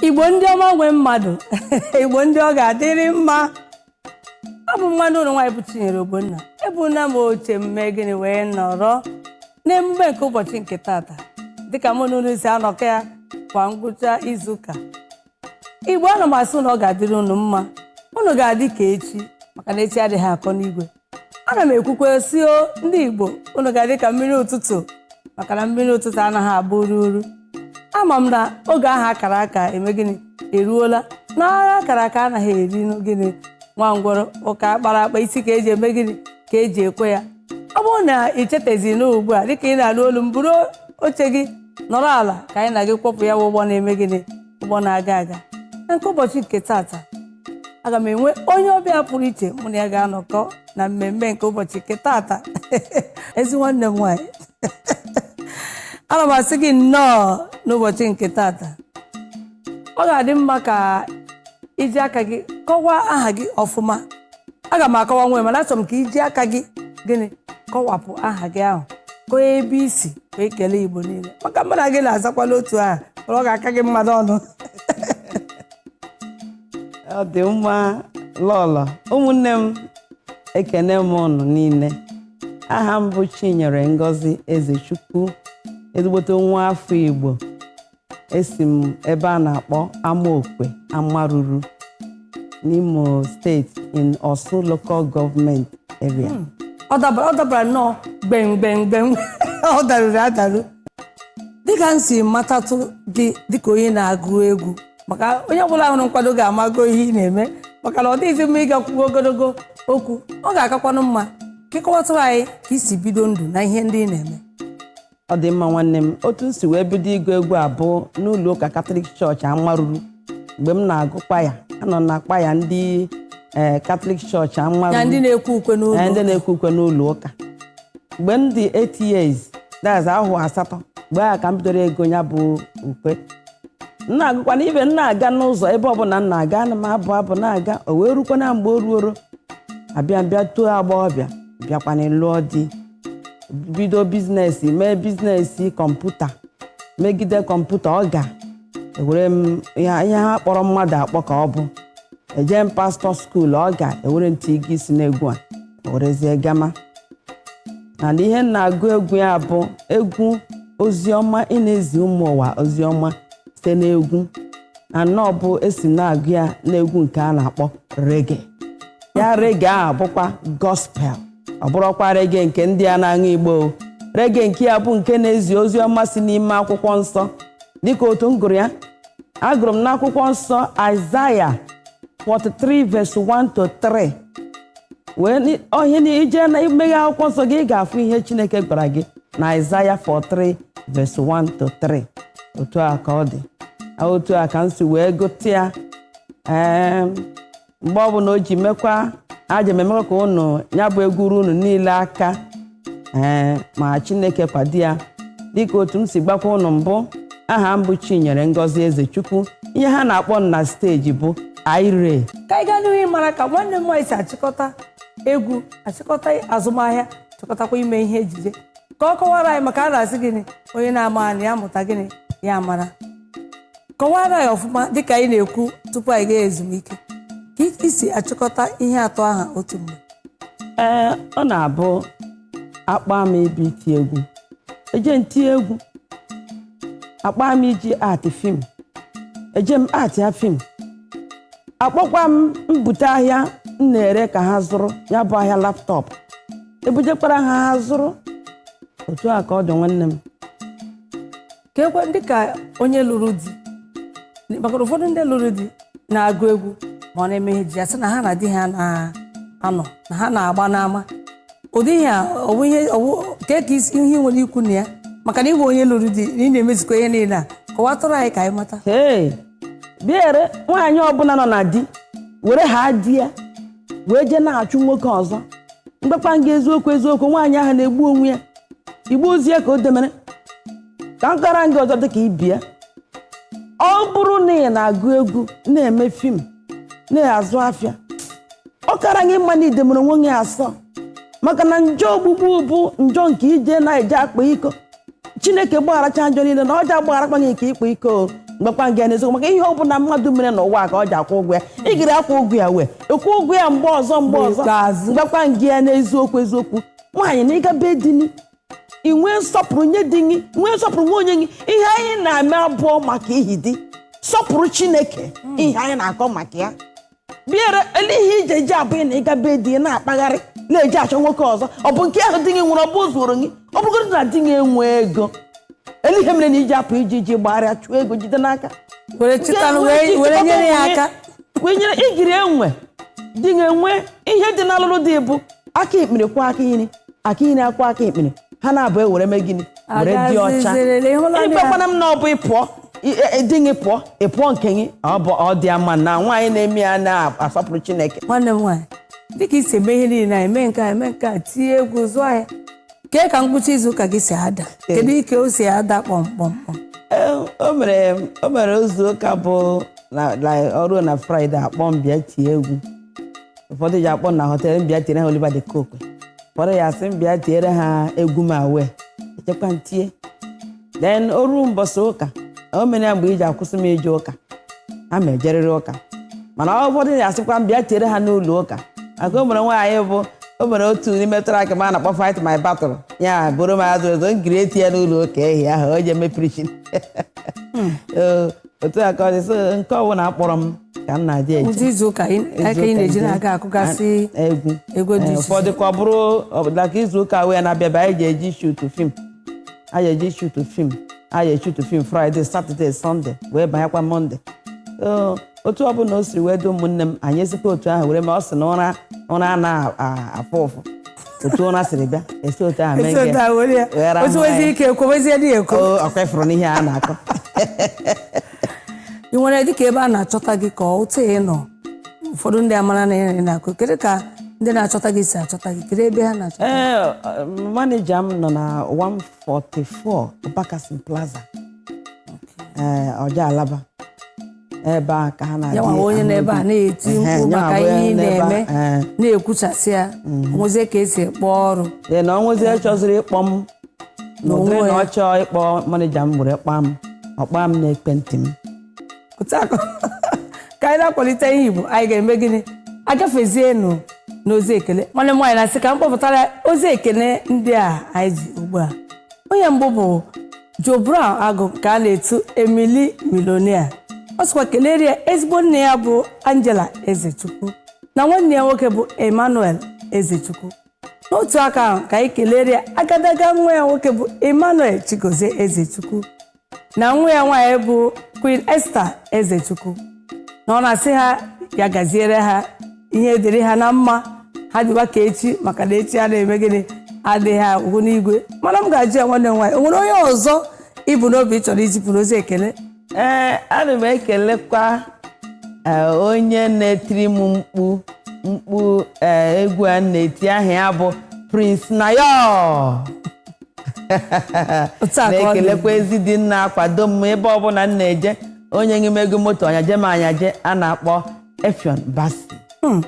igbo ndị ọma nwe mmadụ igbo ndị ọ ga-adịrị mma abụ m nwanne unu nwaanyị bụ Chinyere Ogbonna ebuna m oche mme gịnị wee nọrọ n'emume nke ụbọchị nke tata dịka mụ na unu si anọkọ ya kwa ngwụcha izuụka igbo ana m asị na ọ ga-adịrị unu mma unu ga-adị ka echi maka na echi adịghị akọ n'igwe ana m ekwukwe sị o ndị Igbo unu ga-adị ka mmiri ụtụtụ maka na mmiri ụtụtụ anaghị agba ururu ama m na oge ahụ akara aka eme gịnị eruola na agha akara aka anaghị eri gịnị nwa ngwọrọ ụka akpara akpa isi ka eji eme gịnị ka eji ekwe ya ọ bụrụ na ị chetezi n'ugbu a dịka ị na-alụ olu m buru oche gị nọrọ ala ka anyị na gị kwọpụ ya bụ ụgbọ na-eme gịnị ụgbọ na-aga aga na nke ụbọchị nke tata aga m enwe onye ọbịa pụrụ iche mụ na ya ga-anọkọ na mmemme nke ụbọchị nke tata ezi nwanne m nwaanyị ana m asị gị nnọọ n'ụbọchị nke tata ọ ga-adị mma ka iji aka gị kọwaa aha gị ọfụma aga m akọwanwu mana achọrọ m ka iji aka gị gịnị kọwapụ aha gị ahụ kọọ ebe i si wee kelee igbo niile maka mụ na gị na-azakwala otu aha ọ ga-aka gị mma n'ọnụ ọ dị mma lọlọ ụmụnne m ekene m unu niile aha m bụ chinyere ngozi ezechukwu ezigbote nwa afọ igbo esi m ebe a na-akpọ Amaokwe Amaruru n'Imo steeti in Orsu local government area ọ dabara nnọọ gbemgbemgbem ọ daruru adaru dịka m si matatụ gị dịka onye na-agụ egwu maka onye ọbụla hụrụ nkwado ga-amago ihe ị na-eme maka na ọ dịghịzi mma ịga kwuo ogologo okwu ọ ga-akakwanụ mma ka ị kọwatụrụ anyị ka i si bido ndụ na ihe ndị ị na-eme ọ dị mma nwanne m otu m si wee bido ịgụ egwu a bụ n'ụlọ ụka katọlik chọọchị amaruru mgbe m na-agụ kwaya anọ m na kwaya ndị ee katọlik chọọchị ya ndị amaruru na-ekwe ukwe ee, n'ụlọ ndị na-ekwe ukwe n'ụlọ ụka mgbe m dị 8 years that's ahọ asatọ mgbe ahụ ka m bidoro ịgụ ya bụ ukwe m na-agụkwa na ebe m na-aga n'ụzọ ebe ọbụla m na-aga ana m abụ abụ na-aga o wee rukwa na mgbe o ruoro abịa m bịa too agbọghọbịa bịakwana lụọ di bido biznes mee biznes kọmputa megide kọmputa ọ ga ewere m ihe ihe ha kpọrọ mmadụ akpọ ka ọ bụ eje m pastọ skuul ọ ga ewere ntị ị ga-esi n'egwu a werezie gama mana ihe m na-agụ egwu ya bụ egwu oziọma ị na-ezi ụmụ ụwa oziọma site n'egwu and ọ bụ esi m na-agụ ya n'egwu nke a na-akpọ rege ya rege ahụ bụkwa gospel ọ bụrọkwa rege nke ndị a na-aṅụ igbo o. rege nke ya bụ nke na-ezi ozi ọma si n'ime akwụkwọ nsọ dịka otu m gụrụ ya agụrụ m n'akwụkwọ nsọ Aịzaya 43 verse 1 to 3 wee ni- ọ ihe na ije na imeghe akwụkwọ nsọ gị ị ga-afụ ihe Chineke gwara gị na Aịzaya 43 verse 1 to 3 otu a ka ọ dị otu a ka m si wee gụta ya Em, mgbe ọbụla o ji mekwa aja m emekwa ka ụnụ ya bụ egwu ruo ụnụ niile aka ee ma chineke kwado ya dịka otu m si gwakwa ụnụ mbụ aha m bụ chinyere ngozi ezechukwu ihe ha na-akpọ m na steji bụ Irie ka anyị gaa n'ihu ịmara ka nwanne m nwaanyị si achịkọta egwu achịkọta azụmahịa chịkọtakwa ime ihe ejije ka ọ kọwara anyị maka a na-asị gịnị onye na-ama anị ya mụta gịnị ya mara kọwara anyị ọfụma dịka anyị na-ekwu tupu anyị gaa ezumike ka i si achịkọta ihe atọ aha otu mgbe ee ọ na-abụ akpọọ m ebe iti egwu eje m tie egwu akpọọ m ije act film eje m actịa film akpọkwa m bute ahịa m na-ere ka ha zụrụ ya bụ ahịa laptop ebujekwara ha ha zụrụ otu a ka ọ dị nwanne m ka ekwe dịka onye lụrụ di maka na ụfọdụ ndị lụrụ di na-agụ egwu ma ọ na-eme ihe ejije sị na ha na di ha na-anọ na ha na-agba n'ama ụdị ihe a ọwụ ihe ọwụ ka ka isi ihe i nwere ikwu na ya maka na ịbụ onye lụrụ di na ị na-emezikwa ihe niile a kọwatụrụ anyị ka anyị mata ee biere nwaanyị ọbụla nọ na di wee haa di ya wee jee na-achụ nwoke ọzọ m gwakwa gị eziokwu eziokwu nwaanyị ahụ na-egbu onwe ya igbo ozi ya ka o demere ka m kọrọ gị ọzọ dịka ibia ọ bụrụ na ị na-agụ egwu na-eme film na-azụ afịa ọ kara gị mma na i demere onwe gị asọ maka na njọ ogbugbu bụ njọ nke ije na-eje akpa iko chineke gbagharacha njọ niile na ọ ja-agbagharakwa gị nke ịkpa iko o. m gwakwa gị ya n'eziokwu maka ihe ọ bụla mmadụ mere n'ụwa a ka ọ ji akwụ ụgwọ ya ị gara akwụ ụgwọ ya wee ịkwụ ụgwọ ya mgbe ọzọ m gwakwa gị ya n'eziokwu eziokwu nwaanyị na ịga be di gị ị nwee nsọpụrụ nye di gị nwee nsọpụrụ nye onwe gị ihe anyị na-eme abụrọ maka ihi di sọpụrụ chineke ihe anyị na-akọ maka ya biere ele ihe ejije abụghị na ịga be di gị na-akpagharị na-eje achọ nwoke ọzọ ọ bụ nke ahụ di gị nwere ọ bụ zuoro gị ọ bụgodị na di gị enwe ego ele ihe mere na iji apụ iji iji gbagharịa chụọ ego jide n'aka were chịtanụ wee were nyere ya aka kwenyere igiri enwe di ga-enwe ihe dị n'ọlụlụ di bụ aka ekpere kwọọ aka iri aka iri akwọọ aka ekpere ha naabọ ewere mee gịnị were dị ọcha Agazizirịrị, ịhụla na ya? ịbịakwana m na ọ bụ ịpụọ ị- ị- di gị pụọ ị pụọ nke gị ọ bụ ọ dị ama na nwaanyị na-eme ya na-asọpụrụ chineke nwanne m nwaanyị dịka i si eme ihe niile anyị mee nke a eme nke a tinye egwu zụọ ahịa kee ka ngwụcha izu ụka gị si ada kedu ike o si ada kpọmkpọmkpọm Ee, o nwere o nwere izu ụka bụ na- na- o ruo na fraịde a kpọọ m bịa tie egwu ụfọdụ ji akpọ na họtel m bịa tiere ha Oliver de Coque ụfọdụ ya asị m bịa tiere ha egwu m wee jekwa tie then o ruo mbọsị ụka o mere ya mgbe iji akwụsị m ije ụka aga m ejerịrị ụka mana ụfọdụ ya asịkwa m bịa tiere ha n'ụlọ ụka maka o nwere nwaanyị bụ o nwere otu n'ime track m a na-akpọ fight my battle ya bụrụ m azụ ezo ngiri eti ya n'ụlọ ụka ehi ahụ o ji eme preaching otu a ka ọ dị so nke ọbụla akpọrọ m ka m na-adị eje ụdị izu ụka ị- aka ị na-eji na-aga akụgasị egwu egwu dị Ee, iche ụfọdụ ka ọ bụrụ dịka izu ụka wee na-abịaba anyị je eje shutu film anyị eje shutu film anyị eshutu film fraịde satọde sọnde wee banyekwa mọnde So, otu ọbụla o siri wee dị ụmụnne m anyị esikwa otu ahụ were ma ọ sị na ụra ụra a na-afụ ụfụ otu ụra siri bịa esi otu ahụ mee nke ghara otu wezi ike ekwowezie dị ekwo ọkwa ịfụrụ n'ihe a na-akọ i nwere dịka ebe a na-achọta gị ka otu ị nọ ụfọdụ ndị amara na ị na-akụ kedu ka ndị na-achọta gị si achọta gị kedu ebe ha na-achọta ee maneja m nọ na 144 Bakassi Plaza ee Ojo Alaba ebe a ka ha na-adị ya nwa onye n'ebe a na-eti Ehe, mkpu ya maka bụ ihe ị n'ebe a, na-eme ee. na-ekwuchasị ya o nwezie ka esi ekpe ọrụ ee na o nwezie chọziri ịkpọ m na ụdịrị N'onwe na ya. ọ chọọ ịkpọ manija m were kpọọ m ọ kpọọ m n'ekwentị m otu a ka anyị na-akwalite ihe igbo anyị ga-eme gịnị agafezienụ n'ozi ekele nwanne m nwaanyị na-asị ka m kpọpụtara ozi ekele ndị a anyị ji ugbu a onye mbụ bụ Joe Brown Agụ nke a na-etu Emily Millionaire ọ sịkwa kelere ya ezigbo nne ya bụ Angela Ezechukwu na nwanne ya nwoke bụ Emmanuel Ezechukwu n'otu aka ahụ ka anyị kelere ya agadaga nwa ya nwoke bụ Emmanuel Chigozie Ezechukwu na nwa ya nwaanyị bụ Queen Esther Ezechukwu na ọ na-asị ha ya gaziere ha ihe dịrị ha na mma ha dịwa ka echi maka na echi a na-eme gịnị adịghị agwụ n'igwe mana m ga-ajụ ya nwanne m nwaanyị o nwere onye ọzọ i bu n'obi ị chọrọ izipụrụ ozi ekele ee ana m ekelekwa ee, onye na-etiri m mkpu mkpu ee, egwu a na-eti aha ya bụ Prince Nayo Otu a ka ọ dị. na-ekelekwa ezi di m na-akwado m ebe ọbụla m na-eje o nyeghị m ego moto ọ nyaje m anyaje a na-akpọ Effiong Bassey Hmm.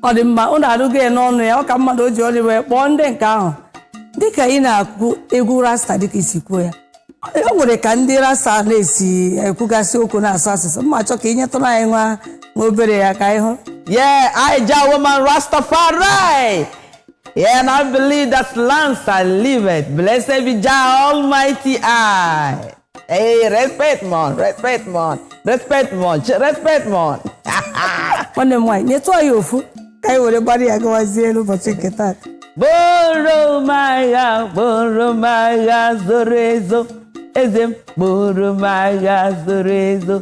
ọ dị mma ụnụ anụgo ya n'ọnụ ya ọ ka mmadụ o ji ọnụ ya wee kpọọ ndị nke ahụ dịka ị na-akụ egwu rasta dịka i si kwuo ya o nwere ka ndị rasta na-esi ekwugasị okwu na-asụ asụsụ m ga-achọ ka ị nyetụrụ anyị nwa obere ya ka anyị hụ Yeah, I Jah woman Rastafari. Yeah, and I believe that Selassie I liveth. Blessed be Jah Almighty I. Hey, respect mon, respect mon, respect mon, ch- respect mon. nwanne m nwaanyị nyetụ anyị ofu ka anyị were gbara ya gawazie n'ụbọchị nke taa Buoro m agha, buoro m agha zoro ezo, eze m buoro m agha zoro ezo,